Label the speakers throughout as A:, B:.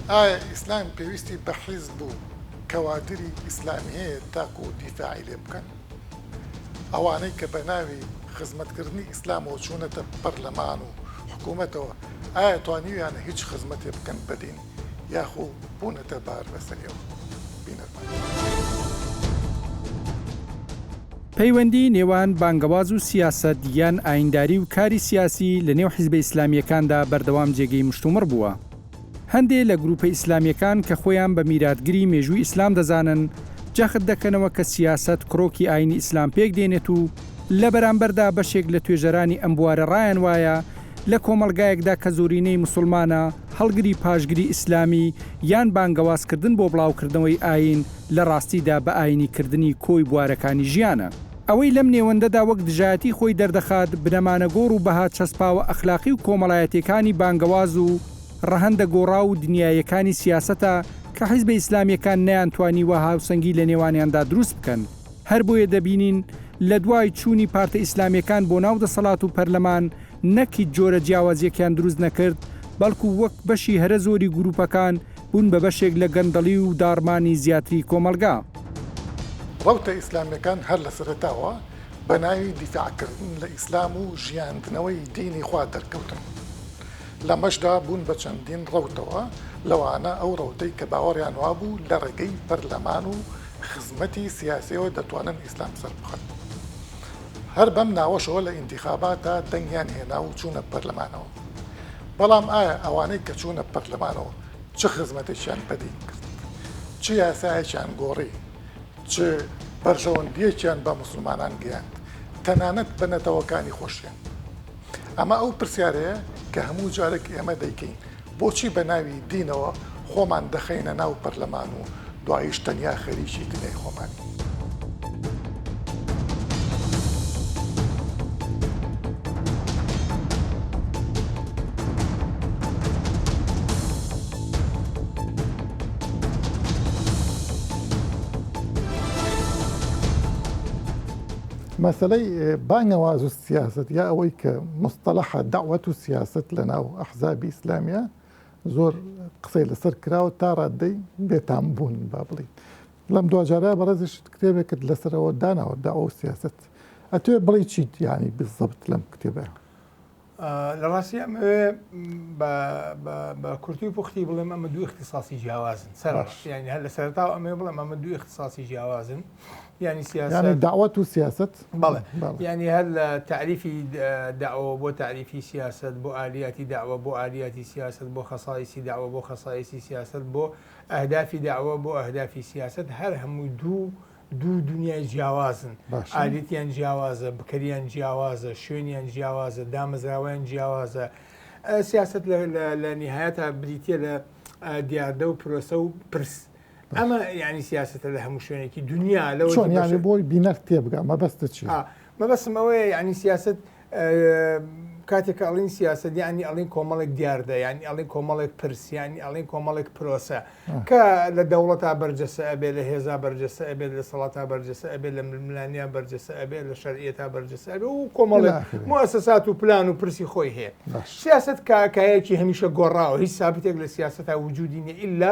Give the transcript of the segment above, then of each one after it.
A: ئایا ئیسلام پێویستی بە حیزب و کەوادری ئیسلامی هەیە تاکو دیفاعی لێ بکەن؟ ئەوانەی کە بە ناوی خزمەتکردنی ئیسلامەوە چوونەتە پەرلەمان و حکوومەتەوە ئایا توانیویانە هیچ خزمەتێ بکەن بە دین؟ یاخو بونەتە بار لەسەر ئێوە
B: پەیوەندی نێوان بانگەواز و سیاسەت یان ئاینداری و کاری سیاسی لە نێو حیزبە ئیسلامیەکاندا بەردەوام جێگەی مشتومڕ بووە هەندێ لە گروپە ئیسلامیەکان کە خۆیان بە میراتگری مێژووی ئیسلام دەزانن جەخت دەکەنەوە کە سیاست کرۆکی ئاینی ئیسلام پێک دێنێت و لە بەرامبەردا بەشێک لە توێژەرانی ئەم بوارە ڕایان وایە لە کۆمەڵگایەکدا کە زۆرینەی موسڵمانە، هەڵگری پاشگری ئیسلامی یان بانگەوازکردن بۆ بڵاوکردنەوەی ئایین، لە ڕاستیدا بە ئایینیکردنی کۆی بوارەکانی ژیانە. ئەوەی لەم نێوەندەدا وەک دژایەتی خۆی دەردەخات، بنەمانە گۆڕ و بەها چەسپاوە ئەخلاقی و کۆمەڵایەتییەکانی بانگەواز و ڕەهەندە گۆڕاو و دنیاییەکانی سیاسەتە کە حیزبە ئیسلامییەکان نەیانتوانیوە هاوسەنگی لە نێوانیاندا دروست بکەن. هەر بۆیە دەبینین لە دوای چوونی پارتە ئیسلامیەکان بۆ ناو دەسەڵات و پەرلەمان نەک هیچ جۆرە جیاوازیەکیان دروست نەکرد بەڵکو وەک بەشی هەرە زۆری گروپەکان بوون بە بەشێک لە گەندەڵی و داڕمانی زیاتری کۆمەڵگا.
A: ڕەوتە ئیسلامیەکان هەر لە سەرەتاوە بە ناوی دیفاع کردن لە ئیسلام و ژیاندنەوەی دینی خوا دەرکەوتن. لەمەشدا بوون بە چەندین ڕەوتەوە لەوانە ئەو ڕەوتەی کە باوەڕیان وابوو لە ڕێگەی پەرلەمان و خزمەتی سیاسیەوە دەتوانن ئیسلام سەربخەن هەر بەم ناوەشەوە لە ئینتیخاباتە دەنگیان هێنا و چوونە پەرلەمانەوە بەڵام ئایا ئەوانەی کە چوونە پەرلەمانەوە چ خزمەتێکیان بەدین کرد چ یاسایەکیان گۆڕی چ بەرژەوەندیەکیان بە مسلمانان گەیاند تەنانەت بە نەتەوەکانی خۆشیان ئەمە ئەو پرسیارەیە کە هەموو جارێک ئێمە دەیکەین بۆچی بە ناوی دینەوە خۆمان دەخەینە ناو پەرلەمان و دواییش تەنیا خەریکی دنیای خۆمانین؟ مەسەلەی بانگەواز و سیاسەت یا ئەوەی کە مستەلەحە دەعوەت و سیاسەت لە ناو ئەحزابی ئیسلامیە زۆر قسەی لەسەر کراوە تا ڕاددەی بێتام بوون با بڵی لەم دواجارە بەڕێزیش کتێبێک کرد لەسەرەوە داناوە دا ئەو سیاست ئەتوێ بڵی چیت یانی بزەبت لەم کتێبە
C: لە ڕاستی ئەمەوێ بە کورتی و پوختی بڵێم ئەمە دوو اختصاصی جیاوازن سەر یعنی هەر لە سەرتاو ئەمێ بڵێم ئەمە دوو اختصاصی جیاوازن. یانی سیاسەت یانی دەعوەت و سیاسەت
A: بەڵێ
C: یانی هەر لە تعریفی داوە بۆ تعریفی سیاسەت بۆ ئالیاتی داوە بۆ ئالیاتی سیاسەت بۆ خەسایسی داوە بۆ خەسایسی سیاسەت بۆ ئەهدافی داوە بۆ ئەهدافی سیاسەت هەر هەموو دوو دوو دنیای جیاوازن ئالیتیان جیاوازە بکەریان جیاوازە شوێنیان جیاوازە دامەزراوەیان جیاوازە سیاست لە نهایەتە بریتە لە دیاردە و پرۆسە و پرس ئەمە ینی سیاستە لە هەموو شوێنێکی دنیا لە چۆن یاێ بۆی
A: بینەر تێبگا مەبەستە چی مەبەسم ئەوەیە
C: ینی سیاست کاتێک ئەڵین سیاست ینی ئەڵین کۆمەڵێک دیاردە ینی ئەڵین کۆمەڵێک پرسیانی ئەڵین کۆمەڵێک پرۆسە کە لە دەوڵەتا بەرجەسە ئەبێ لە هێزا بەرجەسە ئەبێت لە سەڵاتا بەرجەسە ئەبێت لە ململانیا بەرجەسە ئەبێت لە شەرعەتا بەرجەسە ئەبێ و کۆمەڵێک مؤسسات و پلان و پرسی خۆی هەیە سیاست کاکایەکی هەمیشە گۆڕاوە هیچ سابتێک لە سیاستتا وجودی نیە ئللا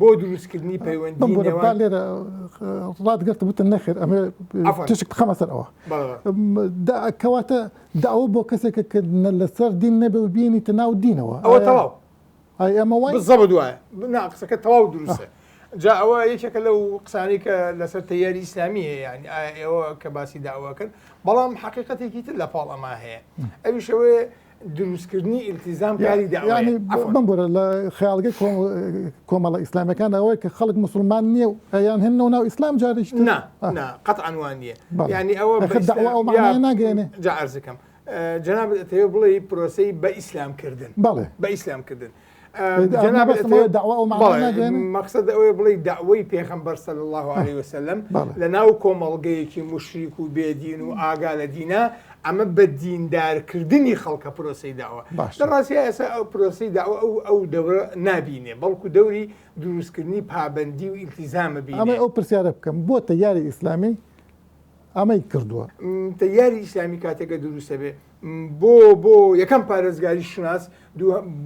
C: بۆ دروستکردنی پەیوەندی نێوان لێرە
A: ڕادگەرت بوتن نەخێر ئەمێ تشک بخەمە سەر ئەوە کەواتە داوە بۆ کەسێکە کە لەسەر دین نەبێ و بینی تە ناو دینەوە ئەوە تەواو
C: ئەمە وای
A: زەب دوایە
C: بنا قسەکە تەواو دروستە جا ئەوە یەکێکە لەو قسانی کە لەسەر تیاری ئیسلامی هەیە ینی ئەوە کە باسی داواکەن بەڵام حقیقەتێکی تر لە پاڵ ئەما هەیە ئەویشەوەی دروستکردنی ئیلتیزام کاری داوای بم بۆرە لە
A: خیاڵگە کۆمەڵە ئیسلامەکان ئەوەیە کە خەڵک مسلمان نییە و ئەیان هێنەوە ناو ئیسلام جاریش قەتعاانوان
C: نیە ینی ئەوە ناگەێنێ
A: جارزەکەم
C: جناب تێ بڵێ پرۆسی بە ئیسلامکردن بەڵێ بە ئیسلامکردن
A: مەخصد ئەوەیە بڵی
C: داوای پێخەمبەر سەل الله عليه وسلم لە ناو کۆمەڵگەیەکی مشریک و بێدین و ئاگا لە دینا ئەمە بە دیندارکردنی خەڵکە پرۆسی داوە لە ڕاستی ئێسا ئەو پرۆسی داوە ئەو ئەو دەورە نبینێ بەڵکو دەوری دروستکردنی پابندی و ئیلتیزامە بی ئەمە ئەو پرسیارە بکەم
A: بۆ تەیاری ئیسلامی ئەمەی کردووە تەیاری ئیسلامی
C: کاتێکە دروستە بێ بۆ بۆ یەکەم پارێزگاری شوناس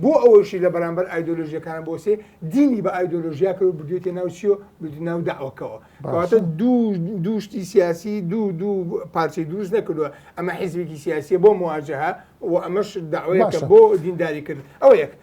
C: بۆ ئەوەشی لە بەرامبەر ئایدۆلۆژیەکان بۆسێ دینی بە ئایدۆلۆژیا کرد و بردوێتە ناو چیۆ بردو ناو داوەکەەوە کەواتە دوو دووشتی سیاسی دوو دوو پارچەی دروست نەکردووە ئەمە حیزبێکی سیاسیە بۆ مواجهە و ئەمەش داوایەکە بۆ دینداری کرد ئەو یەک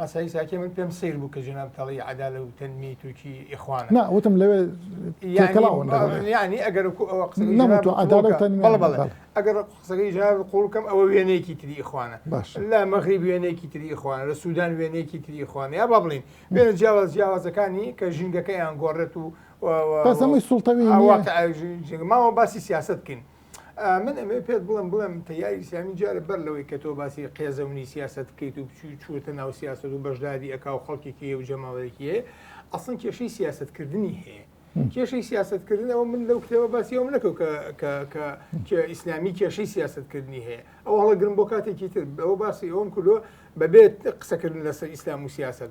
C: مەسای ساکێ من پێم سەیر بوو کە جەناب تەڵەی عەدالە و تەنمی تووکی ئیخوانە نا وتم لەوێ
A: تێکەڵاون
C: لەگەڵ یانی ئەگەر کو ئەوە قسە بکەم. نەمت و عەدالە و تەنمی بەڵێ بەڵێ بەڵێ. ئەگەر قسەکەی جەناب قووڵ بکەم ئەوە وێنەیەکی تری ئیخوانە باشە. لە مەغریب وێنەیەکی تری ئیخوانە لە سوودان وێنەیەکی تری ئیخوانە یا با بڵێین وێنە جیاواز جیاوازەکانی کە ژینگەکەیان گۆڕێت و و و بەس ئەمەی سوڵتەوی
A: نییە. واقعە ژین-
C: ژینگە ماوە باسی سیاسەت بکەین من ئەمێ پێت بڵم بڵێم تەیاری سامی جارە بەر لەوەی کە تۆ باسی قێزەونی سیاست بکەیت و بچوی چووتە ناو سیاست و بەشداری ئەک و خەڵکێکی و جەماڵێکیە ئەسن کێشەی سیاستکردنی هەیە کێشەی سیاستکردنەوە من لەو کتێبە باسی ئەوم نەکەوت کە ئیسلامی کێشەی سیاستکردنی هەیە ئەو هەڵە گرم بۆ کاتێکی تر بەەوە باسی ئەوم کردو بەبێت قسەکردن لەسەر ئیسلام و سیاست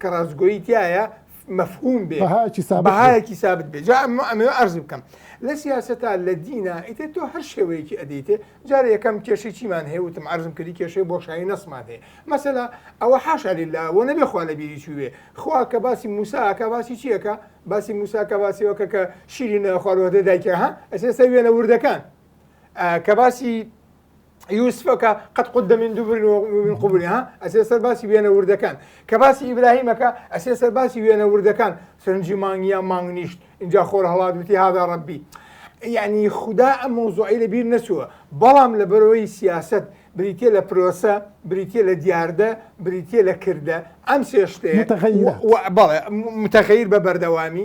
C: کە ڕاستگۆیی تایە مەفهوم بێ بەهایەکی سابت بێ. بەهایەکی سابت بێ جا ئەمە ئەمەوێ عەرز بکەم لە سیاسەتا لە دینا ئیتر تۆ هەر شێوەیەکی ئەدەیتێ جارە یەکەم کێشەی چیمان هەیە وتم عەرزم کردی کێشەی بۆشایی نەسمان هەیە مەسەلا ئەوە حاشا لله و نەبێ خوا لە بیری چووێ خوا کە باسی موساکە باسی چیەکە باسی موساکە باسیەوەکە کە شیرینە خواروەدە دایکە ها ئەسێستا وێنە وردەکان آه، کە باسی یوسفەکە قەت قوت دەمین دوبرن و قوبنی ها ئەسێ سەر باسی وێنە وردەکان کە باسی ئیبراهیمەکە ئەسێ سەر باسی وێنە وردەکان سرنجی مانگیان مانگ نیشت اینجا خۆر هەڵات وتی هادا ڕبی یعنی خوددا ئەم مۆزۆعی لە بیر نەچووە بەڵام لە بەرەوەی سیاست بریتە لە پرۆسە بریتە لە دیاردە بریتە لە کردە ئەم سێشتەیە بەڵێ متەغیر بە بەردەوامی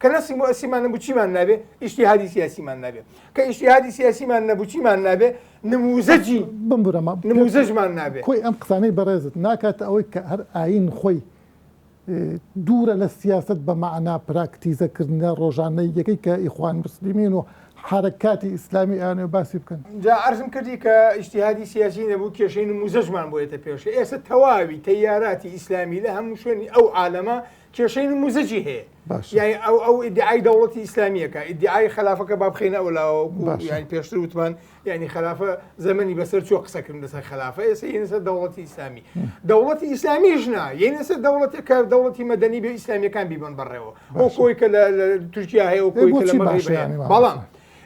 C: کە نە سیمۆسیمان نەبوو چیمان نابێ ئیشتیهادی سیاسیمان نابێ کە ئیشتیهادی سیاسیمان نەبوو چیمان نابێ نموزەجی بمبرەمە نموزەجمان نابێ کۆی ئەم قسانەی بەڕێزت
A: ناکات ئەوەی کە هەر ئاین خۆی دوورە لە سیاست بە معنا پراکتیزەکردە ڕۆژانە یەکەی کە ئیخوان مسللیمین و حرکاتی ئیسلامی ئەیانێ باسی بکەن جا ئەرزم کردی کە
C: ئیشتیهادی سیاسی نەبوو کێشەی نموزەجمان بۆیەتە پێشە ئێستا تەواوی تەیاراتی ئیسلامی لە هەموو شوێنی ئەو عالەمە کێشەی نموزجی هەیە یای ئەو ئەو ئیدعای دەوڵەتی ئیسلامیەکە ئیدعای خلافەکە با بخینە ئەو لاوە یانی پێشتر وتمان یعنی خلافە زەمەنی بەسەر چۆ قسەکردن لەسەر خلافە ئێسە یەنسەر دەوڵەتی ئیسلامی دەوڵەتی ئیسلامی ژنا یەنسەر دەوڵەتی کار دەوڵەتی مەدەنی بە ئیسلامیەکان بیبن بەڕێەوە ئەو کۆی کە لە تورکیا هەیە و کۆی بەڵام.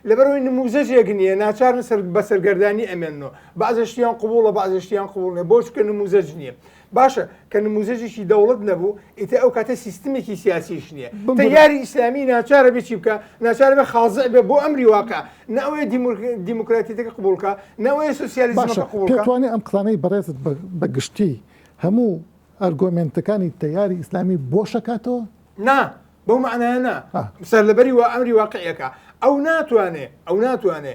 C: لەبەرەوەی نموزەجێک نییە ناچارن سەر بە سەرگەردانی ئەمێنەوە بازشتیان قوبوڵە بازشتیان قوڵێ بۆچکە نموزەج نییە باشە کە نموزەجێکی دەوڵەت نەبوو ئیتە ئەو کاتە سیستمێکی سیاسیش نییە یاری ئیسلامی ناچارە بچی بکە ناچارە بە خازە بێ بۆ ئەمری واقع ناوەیە دیموکراتیتەکە قوبولکە ناوەیە سوسیالیزمەکە قوڵکەوانێ ئەم قلانەی
A: بەڕێزت بە گشتی هەموو ئەرگۆمنتەکانی تەیاری ئیسلامی بۆشەکاتەوە نا
C: بەو معناە نا سەر لەبەری وە ئەمری واقعەکە ئەو ناتوانێ ئەو ناتوانێ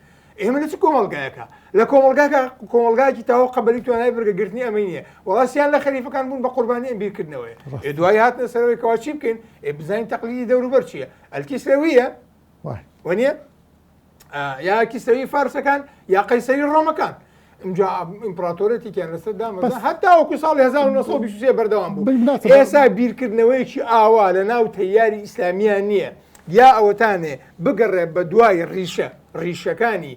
C: ئێمە لە چ کۆمەڵگایەکە لە کۆمەلگاکە کۆمەلگایکی تاوە قەبلی توانای بگەگرتنی ئەمە نیە وڵاسیان لە خەریفەکان بوون بە قوربانی ئەم بیرکردنەوەی دوای هاتنە سەرەوەی کەوا چی بکەین ئێ بزانین تەقلیدی دەوروبەر چییە ئەلکیسرەویە وە نیە یاکیسەوی فارسەکان یا قەیسەری ڕۆمەکان ئەمجا ئیمپراتۆرێتیان لەسەر دامەزا هەتاوەکو ساڵی 1920 بەردەوام بوو ئێسا بیرکردنەوەیەکی ئاوا لە ناو تەیاری ئیسلامیان نییە یا ئەوەتانێ بگەڕێ بە دوای ڕیشە ڕیشەکانی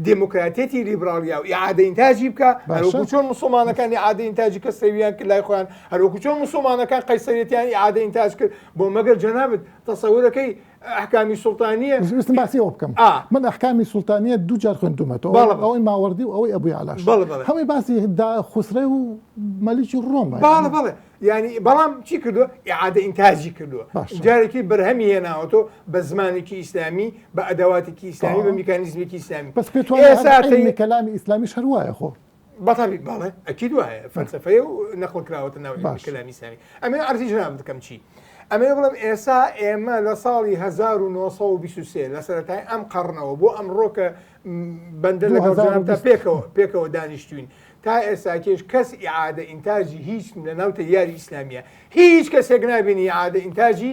C: دموکراتەتی لیبراڵیا و عادەین تاجی بکە هەروکو چۆن مسلمانەکانی عادەین تاجی کە سەویان کرد لای خۆیان هەروکو چۆن مسلمانەکان قەیسەرێتیانی عادەین تاج کرد بۆ مەگەر جەنابەت تەسەورەکەی ئەحکامی سوڵتانیە ویستم باسی ئەوە بکەم ئا.
A: من ئەحکامی سوڵتانیە دوو جار خوێندومەتەوە بەڵێ، بەڵێ. ئەوەی ماوەڕدی و ئەوەی ئەبووی عەلاش بەڵێ، بەڵێ. هەمووی باسی دا خوسرەو و مەلیکی ڕۆمە بەڵێ بەڵێ یانی
C: بەڵام چی کردووە ئیعادە ئینتاجی کردووە باشە. جارێکی بەرهەمی هێناوەتەوە بە زمانێکی ئیسلامی بە ئەدەواتێکی ئیسلامی بە میکانیزمێکی ئیسلامی بەس پێت وایە ئێستا
A: عیلمی تەی- کەلامی ئیسلامیش هەر وایە خۆ بەتابیت باڵێ
C: ئەکیید وایە فەلسفەیە و نەخڵ کراوەتە ناو کەلامی سامی ئەمێ ئەرزی جناب بکەم چی ئەمێ بڵم ئێسا ئێمە لە ساڵی 1920 لە سەرەتای ئەم قەڕنەوە بۆ ئەم ڕۆکە بەندە لەگەڵ جنابدا پێکەوە پێکەوە دانیشتوین تا ئێساکێش کەس ئعادە ئینتاجی هیچ لە ناوتە یاری ئیسلامیە هیچ کەسێک نابینی عادە ئینتاجی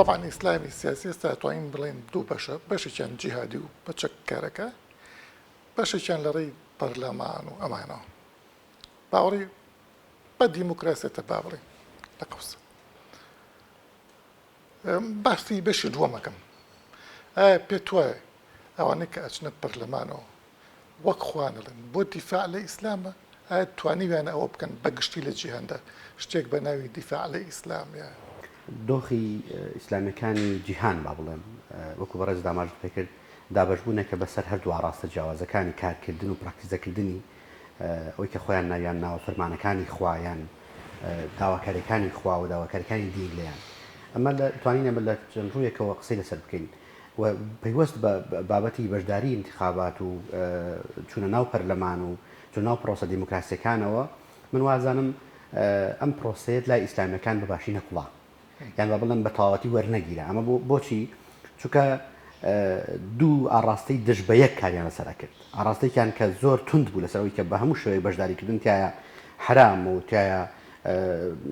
A: تەبعەن ئیسلامی سیاسی ئێستا توانین بڵێن دوو بەشە بەشێکیان جیهادی و بە چەککارەکە بەشێکیان لە ڕێی پەرلەمان و ئەمانەوە باوەڕی بە دیموکراسێتە با بڵێن لە قوسە باسی بەشی دووەم ئەکەم ئایا پێتوایە ئەوانەی کە ئەچنە پەرلەمانەوە وەک خوانەڵێن بۆ دیفاع لە ئیسلامە ئایا توانیویانە ئەوە بکەن بە گشتی لە جیهاندا شتێک بە ناوی دیفاع لە ئیسلامیە دۆخی
D: ئیسلامەکانی جیهان با بڵێم وەکو بەڕێز داماژت پێکرد دابشبوونەکە بەسەر هەردوو ڕاستە جیاوازەکانی کارکردن و پراکتیزەکردنی ئەوەی کە خۆیان ناویان ناوە فرمانەکانی خوا یان داواکاریەکانی خوا و داواکاریەکانی دین لێیان ئەمە لە توانین ئەمە لە چەند ڕوویەکەوە قسەی لەسەر بکەین و پەیوەست بە بابەتی بەشداری انتخابات و چونە ناو پەرلەمان و چون ناو پرۆسە دیموکراسیەکانەوە من وازانم ئەم پرۆسەیەت لای ئیسلامیەکان بەباشی نەکوڵا یان با بڵێم بە تەواوەتی وەرنەگیرا، ئەمە بۆ بۆچی؟ چونکە دوو ئاڕاستەی دژ بە یەک کاریان لەسەر ئەکرد، ئاڕاستەیەکیان کە زۆر توند بوو لەسەر ئەوەی کە بە هەموو شێوەیەک بەشداریکردن تیایا حەرام و تیایا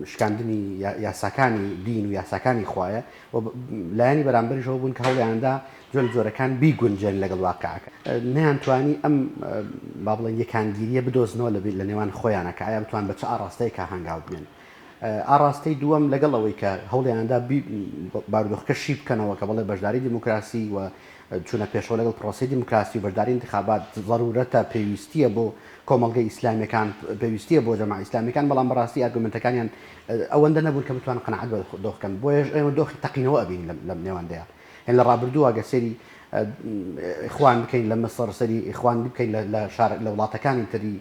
D: شکاندنی یاساکانی دین و یاساکانی خوایە و لایەنی بەرامبەریش ئەوە بوون کە هەوڵیاندا جۆل جۆرەکان بیگونجێن لەگەڵ واقعەکە نەیانتوانی ئەم با بڵێن یەکانگیریە بدۆزنەوە لە نێوان خۆیانە کە ئایا بتوان بە چ ئاڕاستەیەکە هەنگاو بنێن ئاڕاستەی دووەم لەگەڵ ئەوەی کە هەوڵیاندا بارودۆخەکە شی بکەنەوە کە بەڵێ بەشداری دیموکراسی و چوونە پێشەوە لەگەڵ پرۆسی دیموکراسی و بەشداری انتخابات ضرورەتە پێویستیە بۆ کۆمەڵگە ئیسلامیەکان پێویستیە بۆ جەماعە ئیسلامیەکان بەڵام بەڕاستی ئارگومنتەکانیان ئەوەندە نەبوون کە بتوان قەنەعەت بە دۆخکەن بۆیەش ئێمە دۆخی تەقینەوە ئەبین لەم نێواندەیە هێن لە ڕابردووە گە سەری ئیخوان بکەین لە مەسەر سەری ئیخوان بکەین لە شار لە وڵاتەکانی تری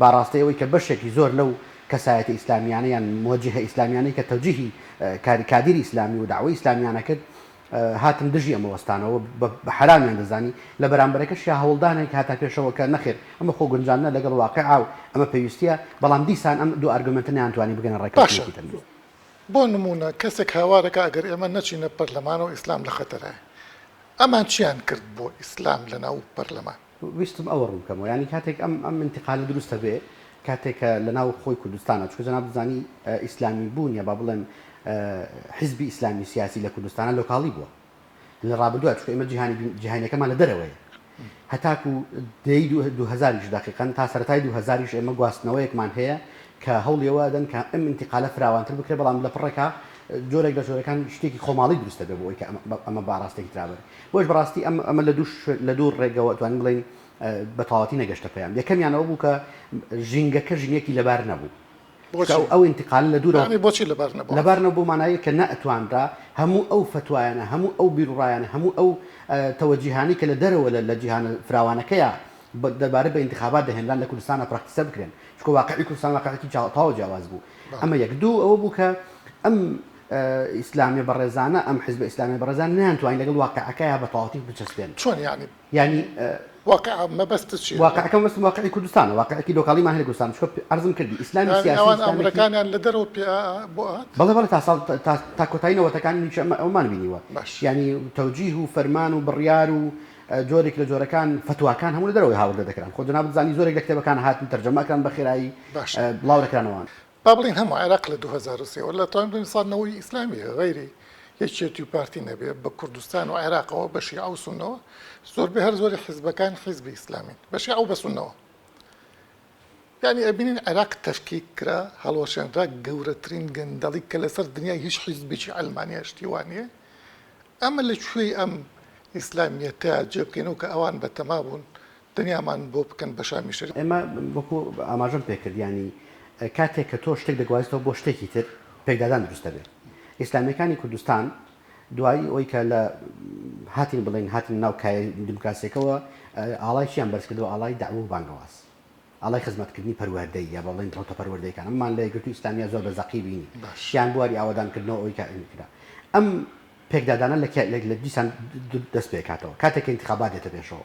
D: بەڕاستی ئەوەی کە بەشێکی زۆر لەو کەسایەتە ئیسلامیانە یان موجهە ئیسلامیانەی کە تەوجیهی کاری کادیری ئیسلامی و دەعوەی ئیسلامیانە کرد هاتن دژی ئەمە وەستانەوە و بە حەرامیان دەزانی لە بەرامبەرەکەشیا هەوڵدانێک هاتە پێشەوە کە نەخێر ئەمە خۆ گونجاندنە لەگەڵ واقیعا و ئەمە پێویستیە بەڵام دیسان ئەم دوو ئارگۆمێنتە نەیانتوانی بگەنە ڕێککەوتنێکی تەندروست. بۆ نموونە
A: کەسێک هاوار دەکات ئەگەر ئێمە نەچینە پەرلەمانەوە ئیسلام لە خەتەرایە. ئەمان چیان کرد بۆ ئیسلام لەناو پەرلەمان؟ ویستم ئەوە ڕوون
D: بکەمەوە یانی کاتێک ئەم ئەم ئینتقالە دروستە بێ کاتێک کە لە ناو خۆی کوردستانە چکە جەناب دەزانی ئیسلامی بوون یا با بڵێم حزبی ئیسلامی سیاسی لە کوردستانە لۆکاڵی بووە لە ڕابردووە چکە ئمە جیهانی جیهانەکەمان لە دەرەوەی هەتاکو دەی 2000یش دقیقن تا سەرای 2000یش ئێمە گواستنەوەیەکمان هەیە کە هەوڵیەوە دەن کە ئەم انتقالە فراوانتر بکرێ بەڵام لە پڕێکا جۆرێک لە جۆرەکان شتێکی خۆماڵی دروستە بێ بۆ ئەوی کە ئەمە باڕاستێکی ترابێت بۆیەش بەڕاستی ئەم ئەمە لە دوو شوێن لە دوو ڕێگەوە توانین بڵێین بە تەواوەتی نەگەشتە پێیان. یەکەمیان ئەوە بوو کە ژینگەکە ژینگەیەکی لەبار نەبوو. چونکە بۆچی؟ ئەو ئەو ئینتیقالە لە دوورەوە یانی بۆچی لەبار نەبوو لەبار عەفوەن؟
A: نەبوو بەو
D: مانایەی کە نەئەتوانرا هەموو ئەو فەتوایانە، هەموو ئەو بیروڕایانە، هەموو ئەو تەوەجیهانەی کە لە دەرەوە لە لە جیهانە فراوانەکەیا بە دەربارە بە ئینتیخابات دەهێنران لە کوردستانا پراکتیسە بکرێن. چونکە واقعی کوردستان واقعێکی جا تەواو جیاواز بوو. بەڵێ. ئەمە یەک. دوو ئەوە بوو کە ئەم ئیسلامیە بەڕێزانە ئەم حزبە ئیسلامیە بەڕێزان نەیانتوانی لەگەڵ واقعەکەیا بە تەواوەتی بچەسپێن چۆن یانی یانی واقع
A: مەبەست چی واقعەکە مەبەست واقعی
D: کوردستانە واقعێکی لۆکاڵیمان هەیە لە کوردستان چکە عەرزم کردی ئیسلامی سیاسی ناوان ئیسلامی ئامرەکانیان لە
A: دەرەوە پێ بۆ هات بەڵێ بەڵێ تا ساڵ تا-
D: تا تا کۆتایی نەوەتەکان هیچ ئەمە ئەومان بینیوە باش. یعنی تەوجیه و فەرمان و بڕیار و اه، جۆرێک لە جۆرەکان فتواکان هەموو لە دەرەوەی هاوردە دەکران خۆ جەنابت زانی زۆرێک لە کتێبەکان هاتن تەرجەمە ئەکران بە خێرایی باش. اه، بڵاو
A: دەکرانەوە با بڵێین هەموو عێراق لە دوو هەزار و سێ وەرە لە تەواوی دونیا سەد نەوەی
D: ئیسلامی
A: هەیە غەیری یەکێتی و پارتی نەبێ بە کوردستان و عێراقەوە بە شیعە و سونەوە زۆربەی هەر زۆری حیزبەکان حیزبی ئیسلامین بە شیعە و بە سونەوە یانی ئەبینین عێراق تەفکیک کرا هەڵوەشێنرا گەورەترین گەندەڵی کە لەسەر دنیای هیچ حیزبێکی عەلمانیا شتی وا نییە ئەمە لە کوێی ئەم ئیسلامیەتە جێبکەینەوە کە ئەوان بە تەما بوون دنیامان بۆ بکەن بە شامی
D: شەریف. ئێمە وەکو ئاماژەم پێکرد یانی کاتێک کە تۆ شتێک دەگوازیتەوە بۆ شتێکی تر پێکدادان دروست دەبێ ئیسلامیەکانی کوردستان دوایی ئەوی کە لە هاتین بڵێن هاتنە ناو کایە دیموکراسیەکەەوە ئاڵای چیان بەرزکردەوە ئاڵای داوە و بانگەواز ئاڵای خزمەتکردنی پەروەردەی یا بەڵێن ڕوتە پەروەردەیەکان ئەممان لە یەکگرتو ئیسلامیا زۆر بە زەقی بینی شیان بواری ئاوادانکردنەوە ئەوی کەئەنکرا ئەم پێکدادانە لە لە دیسان دەست پێکاتەوە کاتێک انتخابات دێتە پێشەوە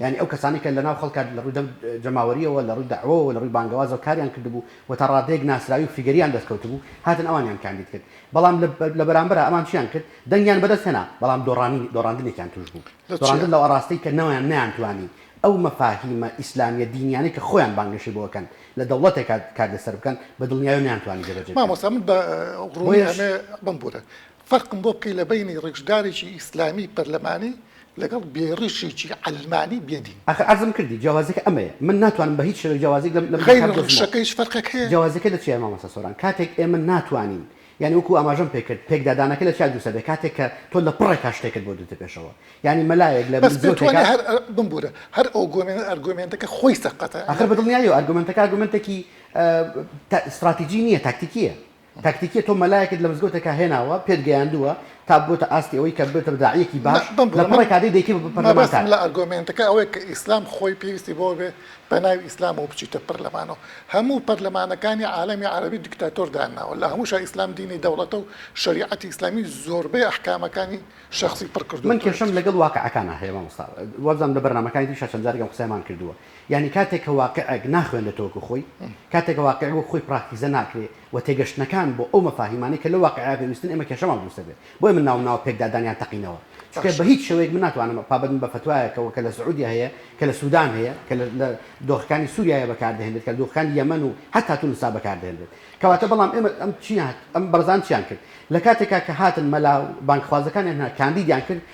D: یانی ئەو کەسانەی کە لەناو خەڵکا لە ڕووی جەماوەرییەوە، لە ڕووی دەعوەوە و لە ڕووی بانگەوازەوە کاریان کردبوو و تا ڕادەیەک ناسراوی و فیگەریان دەست کەوتبوو، هاتن ئەوانیان کاندید کرد. بەڵام لە بەرامبەرا ئەمان چیان کرد؟ دەنگیان بەدەست هێنا، بەڵام دۆڕانی، دۆڕاندنێکیان تووش بوو. دۆڕاندن لەو ئاڕاستەی کە نەوەیان نەیانتوانی ئەو مەفاهیمە ئیسلامییە دینییانەی کە خۆیان بانگەشەی بۆ ئەکەن لە دەوڵەتێکا کار لەسەر بکەن، بە دڵنیایی و نەیانتوانی جێبەجێ بکەن. مامۆستا من بە
A: ڕوونی ئەمێ بمبوورن. فەرقم بۆ بکەی لە بەینی ڕیشدارێکی ئیسلامی پەرلەمانی لەگەڵ بێ ڕیشێکی عەلمانی بێ دین. ئاخر عەرزم کردی
D: جیاوازیەکە ئەمەیە من ناتوانم بە هیچ شێوەیەک جیاوازیەک لەم لەم دوو کات غەیرە دۆزمەوە. ڕیشەکە
A: هیچ فەرقێک هەیە؟ جیاوازیەکە لە چیایە مامۆستا
D: سۆران کاتێک ئێمە ناتوانین یانی وەکو ئاماژەم پێ کرد پێکدادانەکە لە چیا دروستە بێ کاتێک کە تۆ لە پڕێکا شتێکت بۆ دێتە پێشەوە یانی مەلایەک لە بەس پێت وانیە مزگەوتێکا هەر ئە
A: بمبورە هەر ئەوگۆمێنە ئەرگۆمێنتەکە خۆی سەقەتە ئاخر بە دڵنیایەوە
D: ئەرگۆمێنتەکە ئەرگۆمێنتێکی ئە تە ستڕاتیجی نیە تاکتیکیە تاکتیکیە تۆ مەلایەکت لە مزگەوتێکا هێناوە پێت گەیاندووە تا ببێتە ئاستی ئەوەی کە ببێتە داعیەکی باش لە پەڕێک کادەی دەیکەی بە پەرلەمانتار. مەبەستم لە ئەرگۆمێنتەکە
A: ئەوەیە کە ئیسلام خۆی پێویستی بەوە بێت بە ناوی ئیسلامەوە بچیتە پەرلەمانەوە هەموو پەرلەمانەکانی عالەمی عەرەبی دیکتاتۆر دانناوە لە هەمووشا ئیسلام دینی دەوڵەتە و شەریعەتی ئیسلامی زۆربەی ئەحکامەکانی شەخسی پڕ کردۆتەوە. من کێشەم لەگەڵ واقعەکانا
D: هەیە مامۆستا وابزانم لە بەرنامەکانی تریشا چەند جارێک ئەم قسەیەمان کردووە یانی کاتێک کە واقیعێک ناخوێنرێتەوە وەکو خۆی، کاتێک کە واقیع وەکو خۆی پراکتیزە ناکرێ و تێگەشتنەکان بۆ ئەو مەفاهیمانەی کە لەو واقیعە پێویستن ئێمە کێشەمان دروست دەبێ. بۆیە من ناوم ناوە پێکدادانیان تەقینەوە. چونکە بە هیچ شێوەیەک من ناتوانم پابەند بم بە فتوایەکەوە کە لە سعودیە هەیە، کە لە سودان هەیە، کە لە دۆخەکانی سوریایە بەکار دەهێنرێت، کە لە دۆخەکانی یەمەن و حەتا تونسا بەکار دەهێنرێت. کەواتە بەڵام ئێمە ئەم چییە ئەم بەڕێزان چییان کرد؟ لە کاتێکا کە هاتن مەلا و بانگخوازەکانیان هێنا کاندیدیان کرد،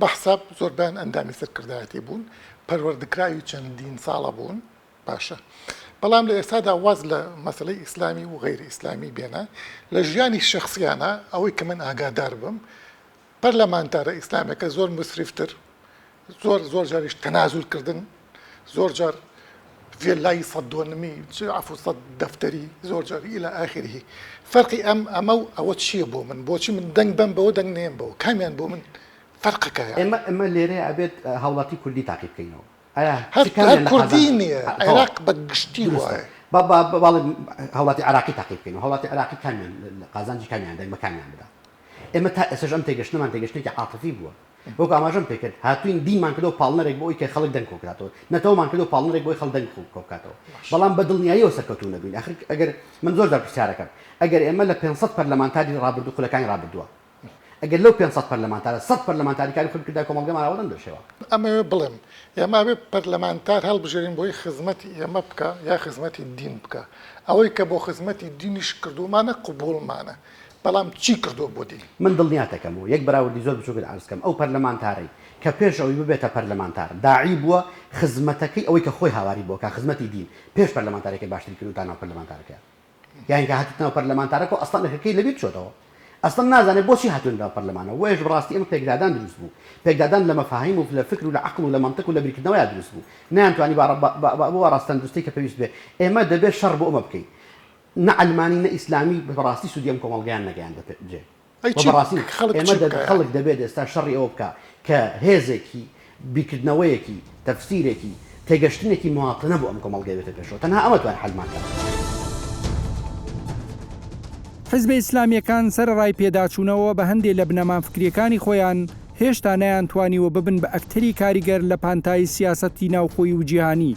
A: بە حساب زۆربەیان ئەندامی سەرکردایەتی بوون، پەروەردەکراوی چەندین ساڵە بوون، باشە بەڵام لە ئێستادا واز لە مەسەلەی ئیسلامی و غەیرە ئیسلامی بێنە، لە ژیانی شەخسیانە ئەوەی کە من ئاگادار بم پەرلەمانتارە ئیسلامیەکە زۆر موسریفتر زۆر زۆر جاریش تەنازولکردن زۆر جار ڤێلای سەد دۆنمی چ عەفو سەد دەفتەری زۆر جار ئیلا ئاخیرهی فەرقی ئەم ئەمە و ئەوە چییە بۆ من بۆچی من دەنگ بەم بەوە دەنگ نێم بەوە کامیان بۆ من فەرقەکەیە ئێمە ئێمە لێرەیە
D: ئەبێت اه، هاوڵاتی کوردی تاقی بکەینەوە ئایا چ هەر کامیان هەر لە
A: کوردی قازانجە نییە اه، تەواو. عێراق بە گشتی دروستە وایە با با با- بەڵێ
D: هاوڵاتی عێراقی تاقی بکەین و هاوڵاتی عێراقی کامیان لە- لە قازانجی کامیان دەنگ بە کامیان بدا ئێمە تا ئێستەش ئەم تێگەشتنەمان تێگەشتنێکی عاتفی بووە وەکو ئاماژەم پێکرد هاتوین دینمان کردەوە پاڵنەرێک بۆ ئەوی کە خەڵک دەنگ کۆبکاتەوە، نەتەوەمان کردەوە پاڵنەرێک بۆی خەڵک دەنگ کۆبکاتەوە، بەڵام بە دڵنیاییەوە سەرکەوتوو نەبوین، ئاخر ئەگەر من زۆر جار پرسیارەکەم ئەگەر ئێمە لە پێنج سەد پەرلەمانتاری ڕابردوو خولەکانی ڕابردووە ئەگەر لەو پێنج سەد پەرلەمانتارە سەد پەرلەمانتاری کاری خۆی بکردایە کۆمەڵگەمان ئاوا نەمدەشێوا. ئەمەوێ بڵێم
A: ئێمە ئەبێ پەرلەمانتار هەڵبژێرین بۆی خزمەتی ئێمە بکا یا خزمەتی دین بکا، ئەوەی کە بۆ خزمەتی دینیش کردوومانە قبوڵمانە، بەڵام چی کردووە بۆ دیل؟ من دڵنیاتەکەمەوە،
D: یەک بەراوردی زۆر بچووکت عەرز کەم، ئەو پەرلەمانتارەی کە پێش ئەوەی ببێتە پەرلەمانتار، داعی بووە خزمەتەکەی ئەوەی کە خۆی هاواری بۆ کا، خزمەتی دیل، پێش پەرلەمانتارێکە باشتری کردووە تا ناو پەرلەمانتارەکەیە. یانی کە هاتیتە ناو پەرلەمانتارەکە و ئەسڵەن ئەرکەکەی لەبیر چۆتەوە. ئەسڵەن نازانێت بۆچی هاتووە ناو پەرلەمانەوە. بۆیەش بەڕاستی ئەمە پێکدادان دروست بوو. پێکدادان لە مەفاهیم و لە فکر و لە عەقڵ و لە مەنتق و لە بیرکردنەوەیا دروست بوو. نەیانتوانی بە ئاڕاستە تەندروستەی کە پێویست بێت. ئێمە دەبێت شەڕ بۆ ئەمە بکەین. نە عەلمانی نە ئیسلامی بە ڕاستی سودی ئەم کۆمەڵگایان نەگەیاندە جێ و بە ڕاستی ئێمە دەبێت خەڵک دەبێت ئێستا شەڕی ئەوە بکا کە هێزێکی بیرکردنەوەیەکی تەفسیرێکی تێگەشتنێکی مواطنە بۆ ئەم کۆمەڵگای بێتە پێشەوە تەنها ئەمە توانێت حەلمان کات.
B: حیزبە ئیسلامیەکان سەرەڕای پێداچونەوە بە هەندێ لە بنەما فکریەکانی خۆیان هێشتا نەیانتوانیوە ببن بە ئەکتەری کاریگەر لە پانتایی سیاسەتی ناوخۆی و جیهانی،